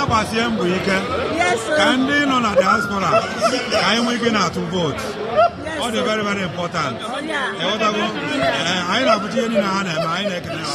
agbasie mbọ ike ka ndị nọ na diaspora ka anyị nwee ike na-atụ vote ọ dị very very important ị ghọtago anyị na-afụcha ihe niile ha na-eme anyị na-ekele ha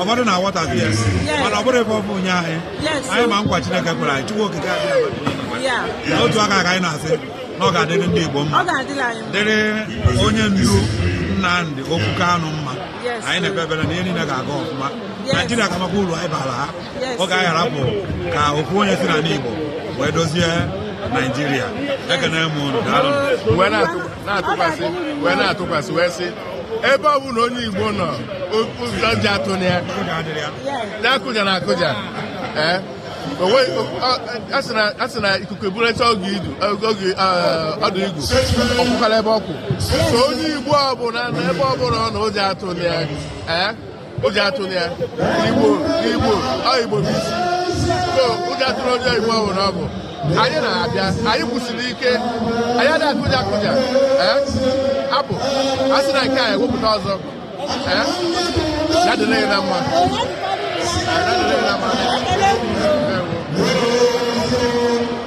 ụfọdụ na-aghọtafie mana ọ bụrụ ife ọ bụ nye anyị anyị ma nkwa Chineke kwere anyị Chukwu okike Abịama otu aka ka anyị na-asị na ọ ga-adịrị ndị Igbo mma dịrị onye ndu Nnamdi Okwu Kanu mma anyị na-ekpe ekpere na ihe niile ga-aga ọfụma Naijiria ga-amakwa uru anyị bara ha ọ ga-arapụ ka otu onye si n'ala Igbo wee dozie Naijiria ekene m unu daalụ na-atụkwasị wee na-atụkwasị wee sị ebe ọ bụla onye Igbo nọ ụjọ atụna ya nya akụjana akụja ee a sị na ikuku eburecha oge idu oge ọdụ igu ọ kwụkwara ebe ọ kwụ so onye Igbo ọbụla na ebe ọbụla ọ nọ ụjọ atụna ya ee ụjọ atụna ya Igbo Igbo ọ Igbo bụ isi so ụjọ atụla onye Igbo ọ bụla ọ bụ anyị na-abịa anyị kwụsịrị ike anyị adịghị akụja akụja ee apụ a sị na nke a ewepụta ọzọ ee ya dịrị anyị na mma ya dịrị anyị na mma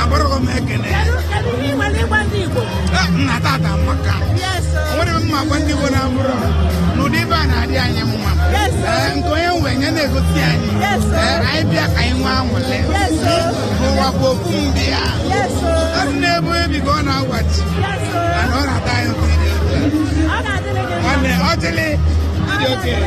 agbaraghị m ekene nna tata maka nwere m ma gwa ndị Igbo na ọ bụrụ n'ụdị ife a na-adị anyị mma nke onye nwe anyị na-egosi anyị anyị bịa ka anyị nwee anwụlị ụwa bụ ofu mbịa ọ dị n'ebe onye bi ka ọ na-awachi mana ọ na-atọ anyị ụtọ ọ dịlị ndị okenye